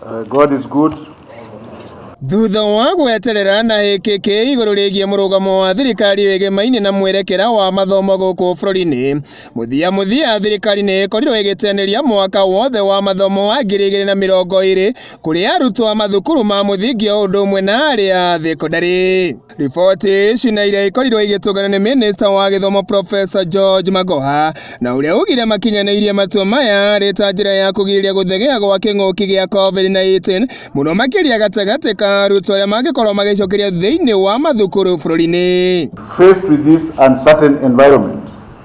Uh, God is good. Thutha wa gweterera na ĩkĩkĩ igũrũ rĩgiĩ mũrũgamo wa thirikari wĩgĩmainĩ na mwerekera wa mathomo gũkũ bũrũri-inĩ, mũthia mũthia thirikari nĩ ĩkorirwo ĩgĩteanĩria mwaka wothe wa mathomo wa ngiri igĩrĩ na mĩrongo ĩrĩ kũrĩ arutwo a mathukuru ma mũthingi o ũndũ ũmwe na arĩa a thekondarĩ. Riboti ici na iria ikorirwo igĩtũngana nĩ mĩnĩsta wa gĩthomo Profesa George Magoha na ũrĩa augire makinyanĩirie matua maya arĩ ta njĩra ya kũgirĩrĩria gũthegea gwa kĩng'ũki gĩa COVID-19 mũno makĩria gatagatĩ ka arutwo arĩa mangĩkorwo magĩcokeria thĩinĩ wa mathukuru bũrũri-inĩ. Faced with this uncertain environment,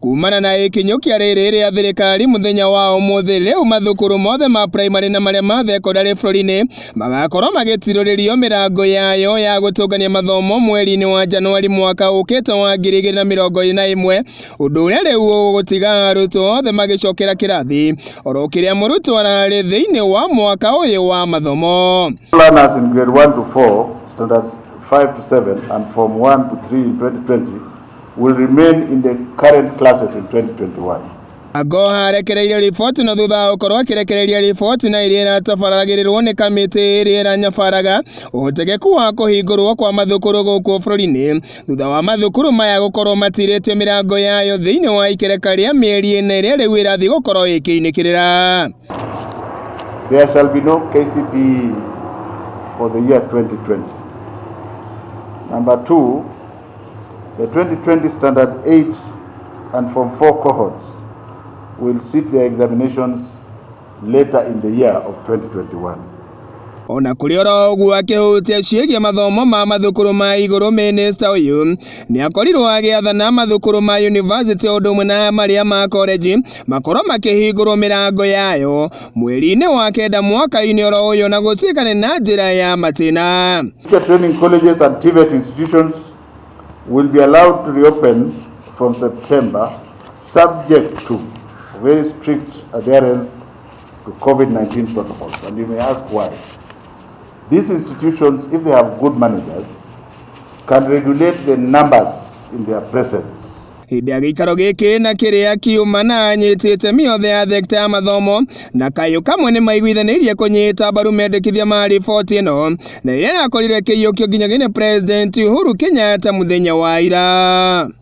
Kumana na ikinyũkia rĩrĩ rĩa thirikari mũthenya wa ũmũthĩ rĩu mathukuru mothe ma primary na marĩa ma thekondarĩ bũrũri-inĩ magakorwo magĩtirũrĩrio mĩrango yayo ya gũtũngania mathomo mweri-inĩ wa Januari mwaka ũkĩte wa ngiri igĩrĩ na mĩrongo ĩrĩ na ĩmwe ũndũ ũrĩa rĩu ũgũtiga arutwo othe magĩcokera kĩrathi oro kĩrĩa mũrutwo ararĩ thĩinĩ wa mwaka ũyũ wa mathomo. Learners in grade 1 to 4, standards 5 to 7 and form 1 to 3 in 2020 will remain in the current classes in 2021. Agoha arekereirio riboti na thutha wa gũkorwo akĩrekereria riboti na ĩrĩa ĩratabaragĩrĩrwo nĩ kamĩtĩ ĩrĩa ĩranyabaraga ũhotekeku wa kũhingũrwo kwa mathukuru gũkũ bũrũri-inĩ thutha wa mathukuru maya gũkorwo matirĩtio mĩrango yayo thĩinĩ wa ikereka rĩa mĩeri ĩna ĩrĩa rĩu ĩrathiĩ gũkorwo ĩkĩinĩkĩrĩra There shall be no KCPE for the year 2020. Number two, The 2020 Standard 8 and Form 4 cohorts will sit their examinations later in the year of 2021. O na kũrĩ oro ũguo akĩhutia ciĩgiĩ mathomo ma mathukuru ma igũrũ mĩnĩsta ũyũ nĩ akorirwo agĩathana mathukuru ma yunivasĩtĩ ũndũ ũmwe na marĩa ma korenji makorwo makĩhingũrwo mĩrango yayo mweri-inĩ wa kenda mwaka-inĩ oro ũyũ na gũtuĩka nĩ na njĩra ya matĩna Teacher training colleges and TVET institutions will be allowed to reopen from September subject to very strict adherence to COVID-19 protocols and you may ask why. These institutions, if they have good managers, can regulate the numbers in their presence. hĩndĩ ya gĩikaro gĩkĩ na kĩrĩa kiuma na anyiti itemi yothe ya thekta ya mathomo na kayũ kamwe nĩ maiguithanĩirie kũnyita mbaru mendekithia ma riboti ĩno na ĩrĩa yakorirwo ĩkĩiyũkio nginyagia nĩ president Uhuru Kenyatta mũthenya wa ira.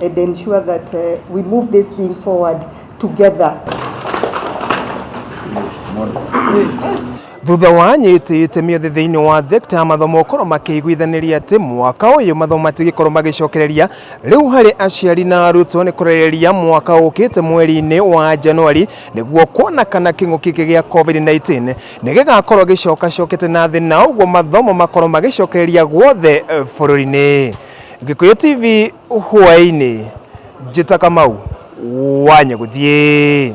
and ensure that uh, we move this thing forward together. thutha wa anyiti itemi othe thiini wa thekta ya mathomo gukorwo makiiguithaniria ati mwaka uyu mathomo matigikorwo magicokereria riu hari aciari na arutwo ni kurereria mwaka ukite mweri-ini wa januari niguo kuona kana king'uki giki gia covid-19 ni gigakorwo gicokacokete na thi na uguo mathomo makorwo magicokereria guothe bururi-ini Gĩkũyũ TV hwaĩ-inĩ, Njĩta Kamau, wanya gũthiĩ.